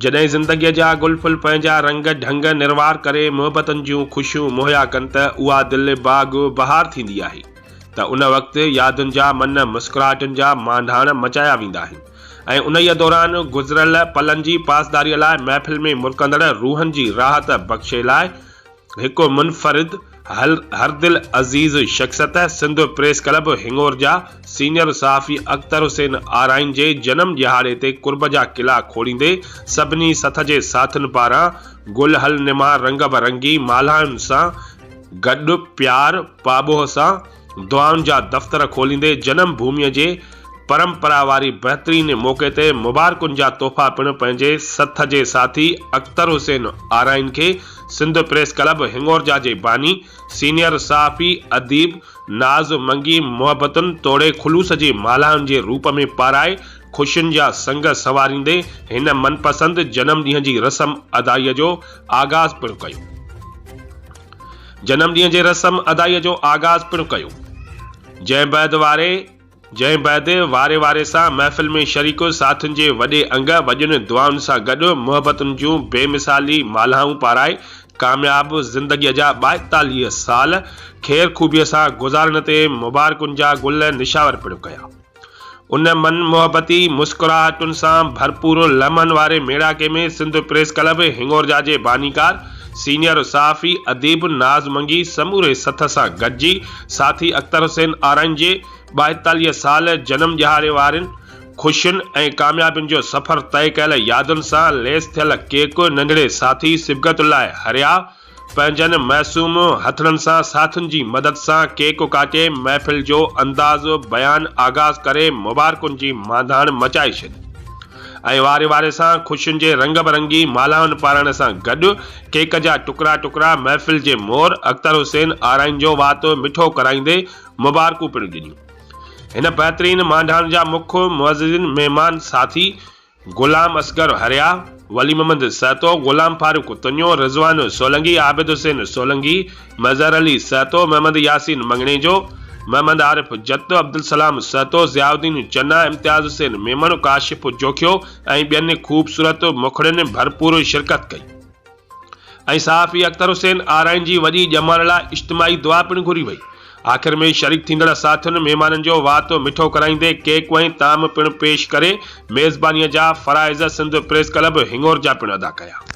جڏهن زندگيء جا گل ڦل پنهنجا رنگ ڍنگ نروار ڪري محبتن جون خوشيون مهيا ڪن ته اها دل باغ بهار ٿيندي آهي ته ان وقت يادن جا من مسڪراهٽن جا مانڍاڻ مچايا ويندا آهن ۽ انهيء دوران گذريل پلن جي پاسداريء لاء محفل ۾ مرڪندڙ روحن جي راحت بخشي لاء هڪ منفرد هردل عزيز شخصيت سنڌ پريس ڪلب هڱور جا سينئر صحافي اختر حسين آرائين جي جنم ڏهاڙي تي قرب جا قلعا کوڙيندي سڀني سٿ جي ساٿين پاران گلهل نما رنگ برنگي مالهائن سان گڏ پيار پاٻوهه سان دعائن جا دفتر کوليندي جنم ڀوميء جي پرمپرا واري بهترين موقعي تي مبارڪن جا تحفا پڻ پنهنجي سٿ جي ساٿي اختر حسين آرائين کي سنڌ پريس ڪلب هنڱورجا جي باني، سينيئر صحافي، اديب ناز منگي محبتن توڙي خلوص جي مالهائن جي روپ ۾ پارائي خوشين جا سنگ سنواريندي هن من پسند جنم ڏينهن جي رسم ادائيء جو آغاز پڻ ڪيو. جنم ڏينهن جي رسم ادائيء جو آغاز پڻ ڪيو. جنهن بعد واري جنهن بعد واري واري سان محفل ۾ شريڪ ساٿين جي وڏي انگ وڏين دعائن سان گڏ محبتن جون بي مثالي مالهائون پارائي ڪامياب زندگيء جا ٻائيتاليهه سال خير خوبيء سان گذارڻ تي مبارڪن جا گل نشاور پڻ ڪيا. ان من محبتي مسڪراهٽن سان ڀرپور لمحن واري ميڙاڪي ۾ سنڌ پريس ڪلب هنڱورجا جي بانيڪار، سينيئر صحافي، اديب ناز منگي سموري سٿ سان گڏجي ساٿي اختر حسين آرائين جي ٻائيتاليهه سال جنم ڏهاڙي وارين خوشين ۽ ڪاميابين جو سفر طئي ڪيل يادن سان ليس ٿيل ڪيڪ ننڍڙي ساٿي صبغت الله حريا پنهنجن معصوم هٿڙن سان ساٿين جي مدد سان ڪيڪ ڪاٽي محفل جو انداز بيان آغاز ڪري مبارڪن جي مانڌاڻ مچائي ڇڏي ۽ واري واري سان خوشين جي رنگ برنگي مالهائن پارائڻ سان گڏ ڪيڪ جا ٽڪرا ٽڪرا محفل جي مور اختر حسين آرائين جو وات مٺو ڪرائيندي مبارڪون پڻ ڏنيون هن بهترين مانڌاڻ جا مک معززين مهمان ساٿي غلام اصغر حريا، ولي محمد سهتو، غلام فاروق تنيو، رضوان سولنگي، عابد حسين سولنگي، مظهر علي سهتو، محمد ياسين مڱڻيجو، محمد عارف جت، عبدالسلام سهتو، ضياء الدين چنا، امتياز حسين ميمڻ، ڪاشف جوکيو ۽ ٻين خوبصورت مکڙين ڀرپور شرڪت ڪئي. ۽ صحافي اختر حسين آرائين جي وڏي ڄمار لاء اجتماعي دعا پڻ گهري وئي. آخر ۾ شريڪ ٿيندڙ ساٿين مهمانن جو وات مٺو ڪرائيندي ڪيڪ ۽ طعام پڻ پيش ڪري ميزبانيء جا فرائض سنڌ پريس ڪلب هڱور جا پڻ ادا ڪيا.